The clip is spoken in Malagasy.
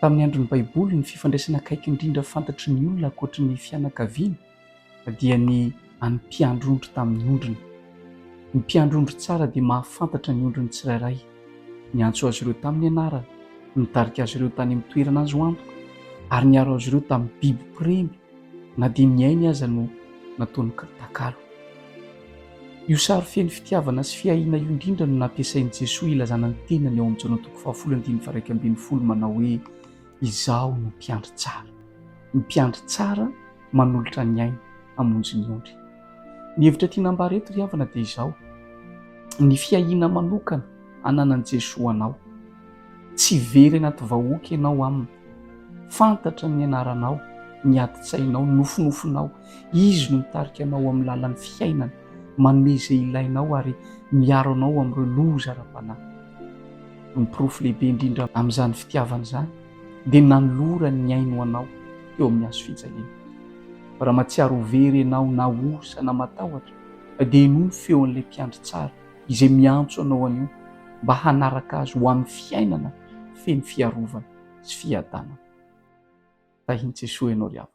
Tamin'ny andron'ny Baiboly, ny fifandraisana akaiky indrindra fantatry ny olona ankoatry ny fianakaviana dia ny an'ny mpiandry ondry tamin'ny ondriny. Ny mpiandry ondry tsara dia mahafantatra ny ondriny tsirairay, niantso azy ireo tamin'ny anarany, nitarika azy ireo tany amin'ny toerana azo antoka, ary niaro azy ireo tamin'ny biby mpiremby. na dia ny ainy aza no nataony takalo. Io sary feno fitiavana sy fiahiana io indrindra no nampiasain'i Jesoa hilazana ny tenany ao amin'ny Jaona toko fahafolo andininy faha-iraika ambin'ny folo manao hoe, Izaho no mpiandry tsara. Ny mpiandry tsara manolotra ny ainy hamonjy ny ondry. Ny hevitra tiana ambara eto ry havana dia izao, ny fiahiana manokana ananan'i Jesoa anao. Tsy very anaty vahoaka ianao aminy. Fantatra ny anaranao, ny adin-tsainao, ny nofinofinao. Izy no mitarika anao amin'ny lalan'ny fiainana, manome izay ilainao ary miaro anao amin'ireo loza ara-panahy. Ny porofo lehibe indrindra amin'izany fitiavana izany dia nanolorany ny ainy ho anao teo amin'ny hazo fijaliana. Raha mahatsiaro ho very ianao na osa na matahotra dia henoy ny feon'ilay Mpiandry tsara. izay miantso anao anio mba hanaraka Azy ho amin'ny fiainana feno fiarovana sy fiadanana. Tahin'i Jesoa ianao ry havana.